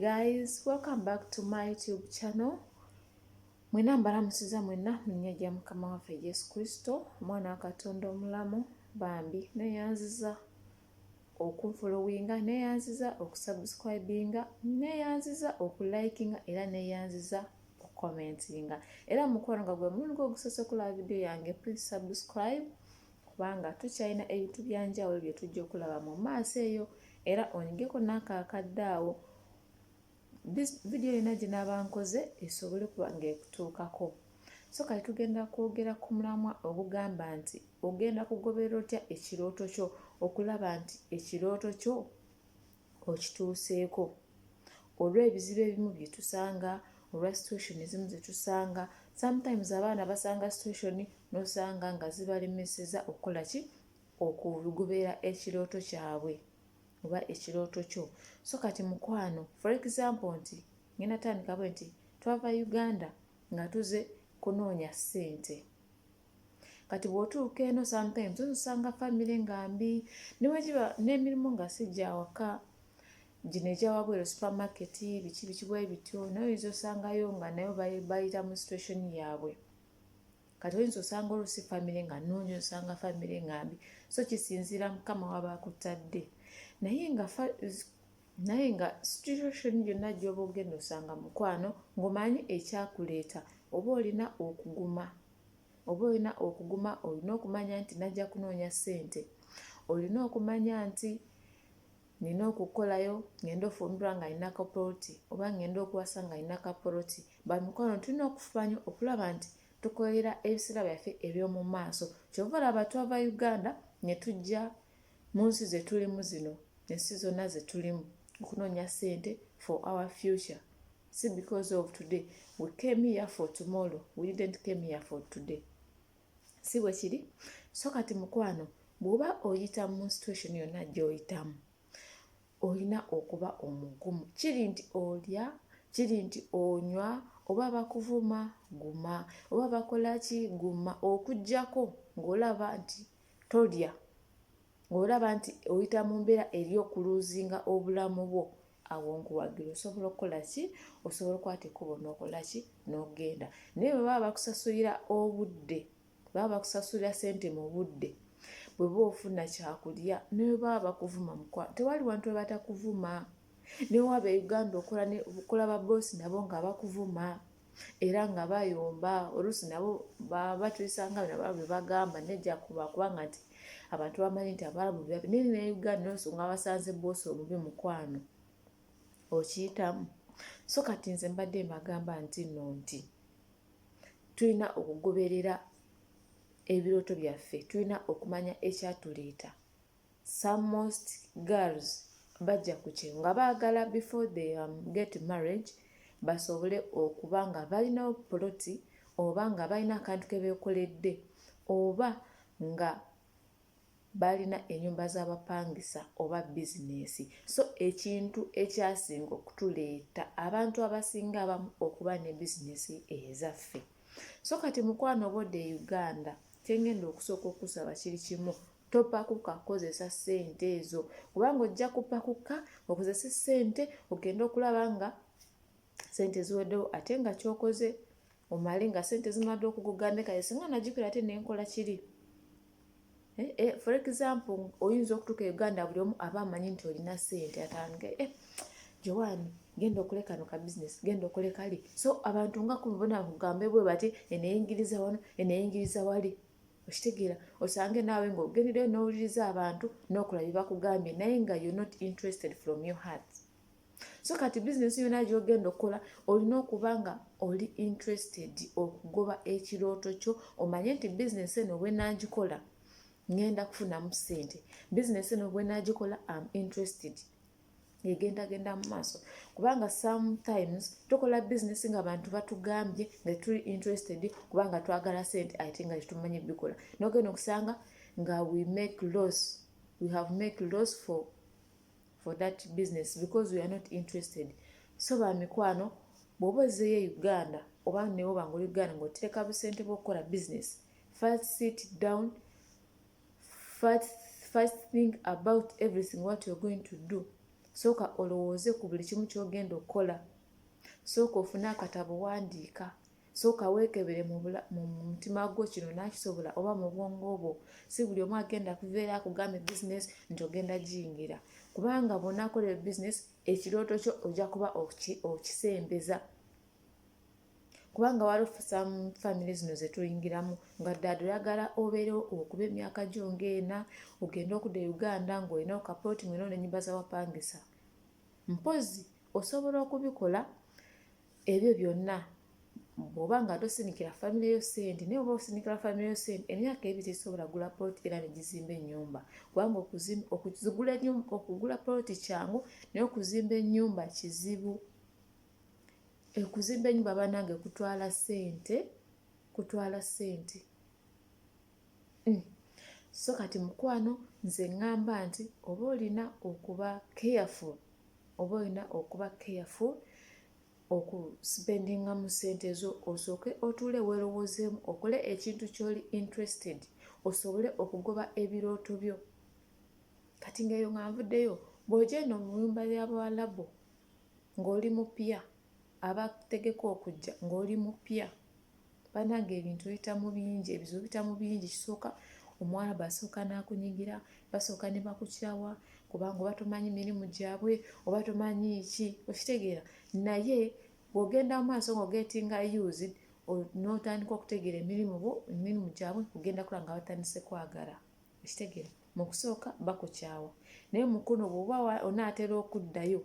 guys welcome back to my youtube channel mwena mbalamusiza mwena munya gya mukama waffe yesu kristo omwana wa katonda omulamu bambi neyanziza okunfolowinga neyanziza okusubscribinga neyanziza okulikinga era neyanziza okukomentinga era mukwano nga gwe mulundi gwogusose okulaba vidiyo yange please subscribe kubanga tukyalina ebintu byanjawulo byetujja okulaba mu maaso eyo era onyigeko naakaakadde awo vidiyo yona gyenaaba nkoze esobole kuba nga ekutuukako so kati tugenda kwogera ku mulamwa ogugamba nti ogenda kugoberera otya ekirooto kyo okulaba nti ekirooto kyo okituuseeko olw'ebizibu ebimu bye tusanga olwa situation ezimu ze tusanga sometimes abaana basanga situation n'osanga nga zibalemeseza okukola ki okugoberera ekirooto kyabwe oba ekirooto kyo so kati mukwano for example nti ngenda tandika bwe nti twava uganda nga tuze kunoonya ssente kati bw'otuuka eno sometimes ozosanga famire nga mbi newegiba n'emirimu nga si gyawaka gino egyawabwero supermarket biki bikibwe bityo naye oyinza osangayo nga nayo bayita mu situation yaabwe kati oyinza osanga olusi famire nga nungi osanga famire nga mbi so kisinziira mukama waba akutadde naye nga naye nga situation yonna gyoba ogenda osanga mukwano ng'omanyi ekyakuleeta oba olina okuguma oba olina okuguma olina okumanya nti najja kunoonya ssente olina okumanya nti Nina okukolayo ngende ofumbirwa nga nina kapoloti oba ngende okuwasa nga nina kapoloti bamikwano tulina okufubanyo okulaba nti tukolerera ebisera byaffe ebyomumaaso kyova olaba twava uganda netujja munsi zetulimu zino ensi zonna zetulimu okunonya sente for our future si because of today we came here for tomorrow we didn't came here for today si bwe kiri so kati mukwano bw'oba oyita mu situation yonna gy'oyitamu olina okuba omugumu kiri nti olya kiri nti onywa oba bakuvuma guma oba bakola ki guma okugyako ng'olaba nti tolya ng'olaba nti oyita mu mbeera eri okuluuzinga obulamu bwo awo nkuwagira osobola okukola ki osobola okukwata ekkubo n'okola ki n'ogenda naye bwe baba bakusasulira obudde baba bakusasulira sente mu budde bwe ba ofuna kyakulya naye baba bakuvuma mukwa tewali wantu we batakuvuma newaaba e uganda okola ba boosi nabo nga bakuvuma era nga bayomba oluusi nabo batuyisanga bino abalabu bebagamba nejja kuba kubanga nti abantu bamanyi nti abalabu bebabi naye ne uganda nonso nga basanze boosi omubi mukwano okiyitamu so kati nze mbadde mbagamba nti no nti tulina okugoberera ebirooto byaffe tulina okumanya ekyatuleeta some most girls bajja kukye nga baagala before they um, get marriage basobole okuba nga balina poloti oba nga balina akantu ke beekoledde oba nga balina enyumba z'abapangisa oba bizinesi so ekintu ekyasinga okutuleeta abantu abasinga abamu okuba ne bizinesi ezaffe so kati mukwano obodde e uganda kyengenda okusooka okusaba kiri kimu Topakuka kukozesa ssente ezo kubanga ojja kupakuka okozese ssente ogenda okulaba nga ssente ziweddewo ate nga kyokoze omale nga ssente zimadde okuguganekaye singa nagikwira ate nenkola kiri eh, eh, for example oyinza okutuuka e uganda buli omu aba amanyi nti olina ssente atandika eh, jowani genda okole kano ka bizinesi genda okole kali so abantu nga kubona kugambe bwe bati eneyingiriza wano eneyingiriza wali okitegeera osange naawe ng'ogendeyo n'owuliriza abantu n'okola bye bakugambye naye nga you not interested from your heart so kati bizinesi yona gyogenda okukola olina okuba nga oli interested okugoba ekirooto kyo omanye nti bizinesi eno bwenagikola ngenda kufunamu sente bizinesi eno bwenagikola am interested egendagenda mu maaso kubanga sometimes tukola business nga abantu batugambye nga tuli interested kubanga twagala sente ate nga tetumanyi bikola nogenda okusanga nga we make loss we have make loss for for that business because we are not interested so bamikwano bwoba ozeyo e uganda oba newoba nga oli uganda ngaotereka busente bwokukola business first sit down first thing about everything what you're going to do sooka olowooze ku buli kimu kyogenda okukola sooka ofune akatabo wandiika sooka weekebere mu mutima gwo kino nakisobola oba mu bwongo bwo si buli omu agenda kuveera akugambye bizinesi nti ogenda giyingira kubanga bwonakola ebizinesi ekirooto kyo ojja kuba okisembeza kubanga walufusa mu famire zino zetuyingiramu nga ddala oyagala obeere okuba emyaka gyo ngaena ogende okuda e uganda ngaolina okapooti mwena onenyumba zawapangisa mpozi osobola okubikola ebyo byonna bwoba nga tosinikira famire yo sente naye oba osinikira famire yo sente emyaka ebi tesobola gula poloti era negizimba enyumba kubanga okugula poloti kyangu naye okuzimba enyumba kizibu Okuzimba ennyumba bannange kutwala ssente, kutwala ssente. So kati mukwano nze ŋŋamba nti oba olina okuba careful, oba olina okuba careful okusipendingamu ssente zo osooke otuule weerowoozeemu okole ekintu ky'oli interested osobole okugoba ebirooto byo. Kati ng'eyo nga nvuddeyo bw'oja eno mu nnyumba ya Bawalabu. ng'oli mupya abategeka okujja ng'oli mupya banange ebintu biyita mu bingi ebizibu biyita mu bingi kisooka omuwala basooka n'akunyigira basooka ne bakukyawa kubanga oba tomanyi mirimu gyabwe oba tomanyi ki okitegeera naye bw'ogenda mu maaso ng'ogetinga used n'otandika okutegeera emirimu bo emirimu gyabwe ogenda kula nga batandise kwagala okitegera mu kusooka bakukyawa naye mukono bwoba onaatera okuddayo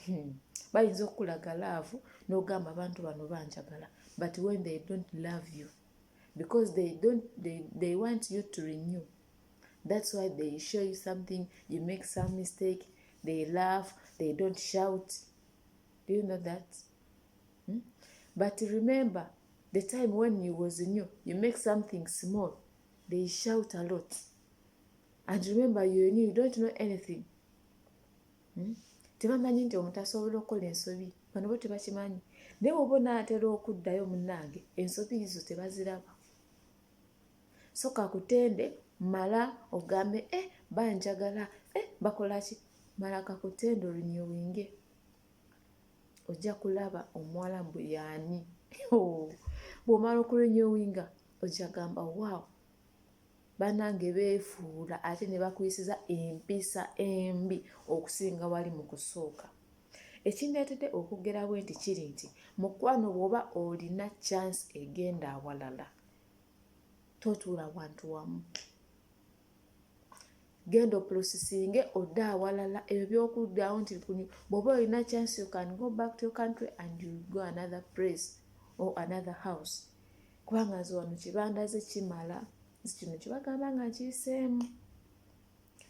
hmm, bayinza okukulaga laavu n'ogamba abantu bano banjagala but when they don't love you because they don't they, they want you to renew that's why they show you something you make some mistake they laugh they don't shout do you know that hmm? but remember the time when you was new you make something small they shout a lot and remember you new you don't know anything hmm? tebamanyi nti omuntu asobola okukola ensobi bano bo tebakimanyi naye woba onaatera okuddayo munange ensobi izo tebaziraba soka kutende mala ogambe e eh, banjagala e eh, bakolaki mala kakutende olunyewinge ojja kulaba omuwala mbu yaani bwomala okulinyewinga ojagamba waawo banange beefuula ate ne bakuyisiza empisa embi okusinga wali mu kusooka ekindeetedde okwogera bwe nti kiri nti mukwano bw'oba olina chance egenda awalala totuula wantu wamu genda oprosisinge odde awalala ebyo byokuddawo nti bwoba olina chance you can go back to your country and you go another place or another house kubanga nze wano kibandaze kimala nti kino kyebagamba nga nkiyiseemu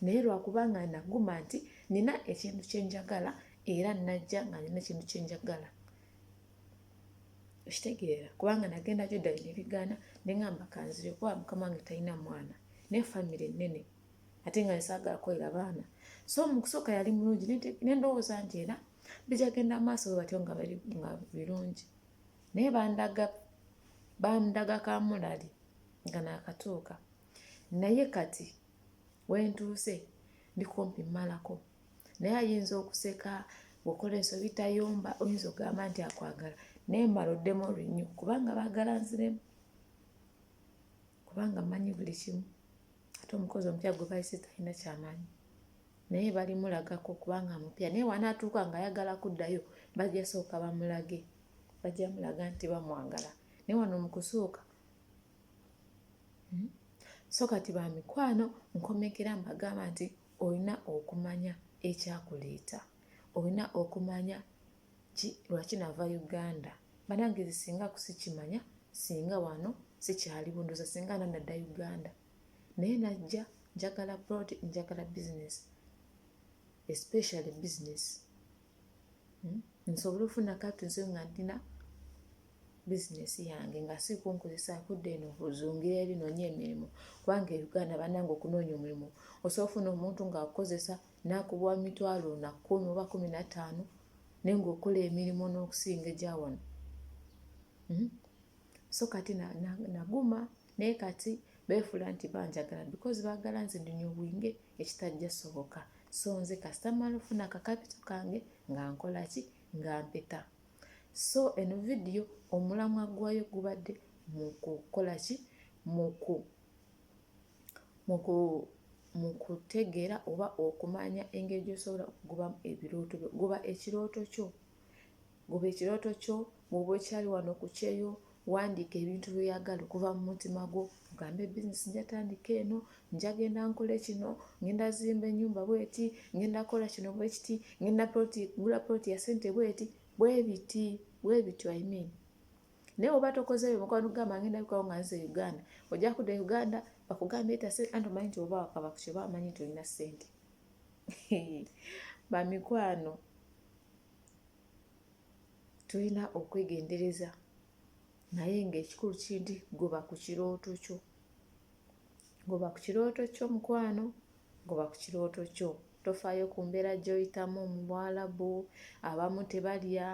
naye lwakubanga naguma nti nina ekintu kyenjagala era najja nga nina ekintu kyenjagala okitegeera kubanga nagenda gyoddayo nebigaana neŋamba kanzire kuba mukama wange talina mwana naye famire nnene ate nga nesaagala kukolera baana so mukusooka yali mulungi nendowooza nti era bijagenda maaso bwe batyo nga birungi naye bandaga bandaga kamulali nga nakatuuka naye kati wentuuse ndikumpi malako naye ayinza okuseka bwokola ensobi tayomba oyinza okugamba nti akwagala naye mala oddemu olunyo kubanga baagala nziremu kubanga manyi buli kimu ate omukozi omupya gwe bayise talina kyamanyi naye balimulagako kubanga mupya naye wanaatuuka nga ayagala kuddayo bajja sooka bamulage bajja mulaga nti bamwagala naye wano mukusooka hmm? so kati bamikwano nkomekera mbagamba nti olina okumanya ekyakuleeta olina okumanya ki lwaki nava uganda banange zi singa kusikimanya singa wano sikyaliwo ndoza singa nanadda uganda naye najja njagala prod njagala business especially business hmm? nsobole ofuna katuze nga ndina bizinesi yange nga si kunkozesa kudda eno ozungire eri nonya emirimu kubanga euganda banange okunoonya omulimu osobola ofuna omuntu ngaakukozesa nakubuwa mitwalo na kumi oba kumi nataano naye ngaokola emirimu n'okusinga egya wano hmm? so kati naguma na, na naye kati beefuula nti banjagala because baagala nze ndunya obwinge ekitajja soboka so nze kasita mala ofuna akakapito kange nga nkola ki nga mpeta so eno vidiyo omulamwa gwayo gubadde mu kukola ki muku muku mu kutegeera oba okumanya engeri gy'osobola okugobamu ebirooto byo goba ekirooto kyo Goba ekirooto kyo, bw'oba okyali wano ku kyeyo, wandiika ebintu by'oyagala okuva mu mutima gwo. Ogambe bizinesi nja tandika eno, nja genda nkole kino, ngenda zimba ennyumba bweti, ngenda kola kino bwe kiti, ngenda poloti, gula poloti ya sente bweti, bwe biti, bwe biti, I mean. Naye oba tokoze ebyo mukwano kugamba ngenda bikawo nga nze Uganda. Ojja kudda e Uganda, bakugambye eta sente, anti omanyi nti oba wakaba ku kyo, bamanyi nti olina sente. Bamikwano. tulina okwegendereza naye ng'ekikulu kinti goba ku kirooto kyo goba ku kirooto kyo mukwano goba ku kirooto kyo tofaayo ku mbeera gy'oyitamu mu bwalabu abamu tebalya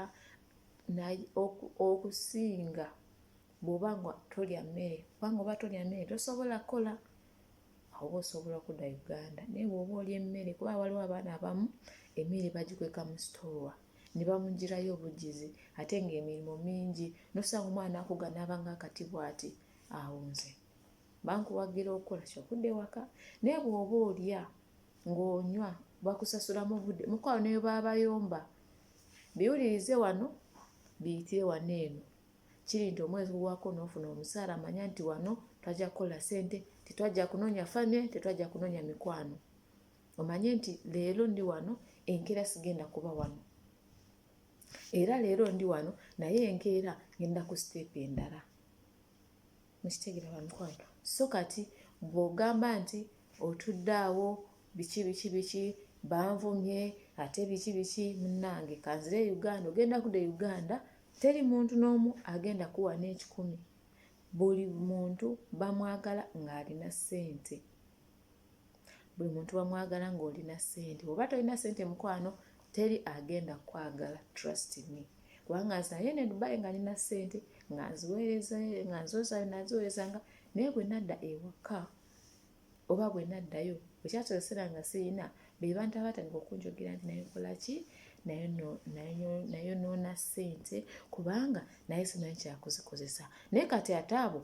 okusinga bw'oba nga tolya mmere kubanga oba tolya mmere tosobola kukola oba osobola okudda uganda naye bw'oba olya emmere kuba waliwo abaana abamu emmere bagikweka mu sitoowa ne bamugirayo obugizi ate ng'emirimu mingi nosanga omwana akuga n'abanga akati bwati awo nze bankuwagira okukola kyokudda ewaka naye bw'oba olya ng'onywa bakusasulamu budde mukwao neyo baabayomba biwulirize wano biyitire wano eno kiri nti omwezi guwako n'ofuna omusaala manya nti wano twajja kukola ssente tetwajja kunoonya famire tetwajja kunoonya mikwano omanye nti leero ndi wano enkeera sigenda kuba wano era leero ndi wano naye enkeera ngenda ku siteepu endala mukitegera bamikwano so kati bwogamba nti otudde awo biki biki biki banvumye ate biki biki munange kanzire e uganda ogenda kuda e uganda teri muntu n'omu agenda kuwa n'ekikumi buli muntu bamwagala ng'alina ssente buli muntu bamwagala ng'olina ssente oba tolina ssente mukwano teri agenda kwagala trust me kubanga nze naye ne dubai nga nina ssente nga nziweereza nga nzozayo naziweerezanga naye bwe nadda ewaka oba bwe naddayo ekyasobosera nga sirina be bantu abatandika okunjogera nti naye nkolaki naye noona ssente kubanga naye simanyi kyakuzikozesa naye kati ate abo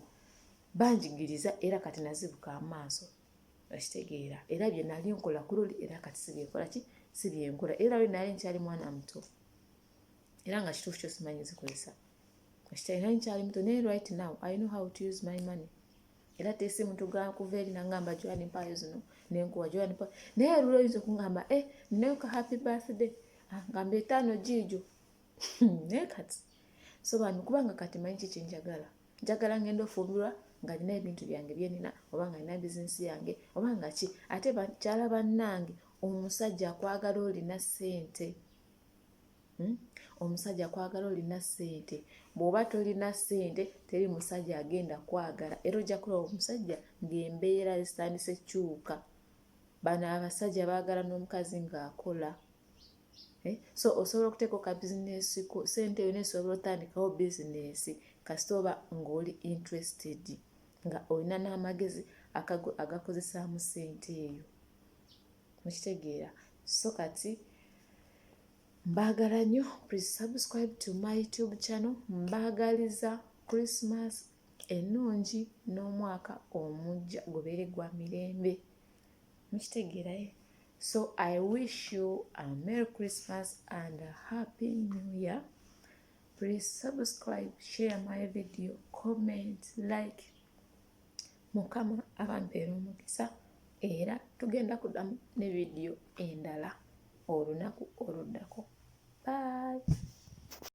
banjigiriza era kati nazibuka amaaso nakitegeera era bye nali nkola ku luli era kati sibyenkola ki si byenkola era luli nali nkyali mwana muto era nga kituufu kyo simanyi zikozesa kakitali nali nkyali muto naye right now i know how to use my money era tesi muntu gakuva eri nangamba joani mpaayo zino nenkuwa joani pa naye luli oyinza okungamba e eh, ninayo ka happy birthday ah, ngamba etaano jiijo naye kati so bambi kubanga kati manyi kiki njagala njagala ngenda ofumbirwa nga nina ebintu byange byenina oba nga nina bizinesi yange oba nga ki ate bakyala bannange omusajja akwagala olina ssente hmm? omusajja akwagala olina ssente bw'oba tolina ssente teri musajja agenda kwagala era ojja kulaba omusajja ng'embeera zitandise kyuka bano abasajja baagala n'omukazi ng'akola Eh, so osobola okuteeka oka bizinesi ku sente yona esobola otandikawo bizinesi kasita oba ngaoli interested nga olina n'amagezi agakozesaamu sente eyo mukitegeera so kati mbaagala nnyo please subscribe to my tube channel mbaagaliza christmas ennungi n'omwaka omujja gubeere gwa mirembe mukitegeerayo so i wish you a merry christmas and a happy new year please subscribe share my video comment like mukama abampeera omukisa era tugenda kudamu ne vidiyo endala olunaku oluddako bye